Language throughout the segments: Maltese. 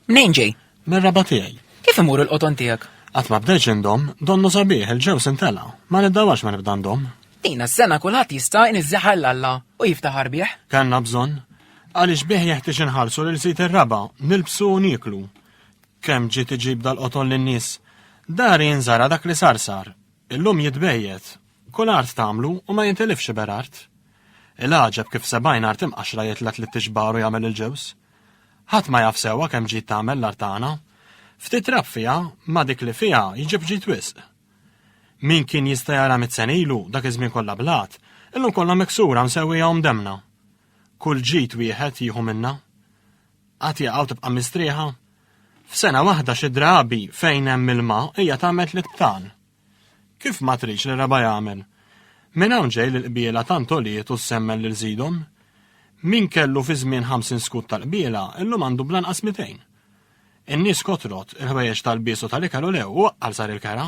Mnejn ġej? Mir-raba tiegħi. Kif imur il-qoton tiegħek? Qatt ma bdejx indom, donnu sabiħ il-ġew sintela, ma nibdawax ma nibda ndom. Dina s-sena kulħadd jista' inizzaħar l-alla u jiftaħar bih. Kanna bżonn. Għaliex bih jeħtieġ inħarsu lil sit ir-raba, nilbsu u nieklu. Kemm ġiet iġib dal-qotol lin-nies! Dari inżara dak li sar sar. Illum jitbejjet. Kull art tagħmlu u ma jintilifx iberart. Il-għaġeb kif sebgħin art imqaxxra jitla' tlitt ixbar u jagħmel il-ġewż. Ħadd ma jaf sewwa kemm ġiet tagħmel l-art tagħna. Ftit trab fiha, ma dik li fiha jġib ġid wisq. Min kien jista' jara mitt sena ilu dak iż-żmien kollha blat, illum kollha miksura msewwija u mdemmna. Kull ġid wieħed jieħu minna. Għad jaqaw tibqa' mistrieħa? F'sena waħda xi drabi fejn hemm ilma hija tagħmel tliet qtan. Kif ma tridx li raba' jagħmel? Minn hawn ġej li l-qbiela tant għoliet u ssemmel lil żidhom. Min kellu fi żmien ħamsin skut tal-qbiela illum għandu bl-anqas mitejn. In-nies kotrot, il-ħwejjeġ tal-bies u tal-ikel u lew u aqqal sar il-kera.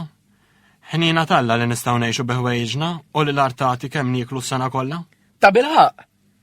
Ħniena t'Alla li nistgħu ngħixu bi ħwejjiġna u li l-art tagħti kemm nieklu s-sena kollha. Tabilħaqq,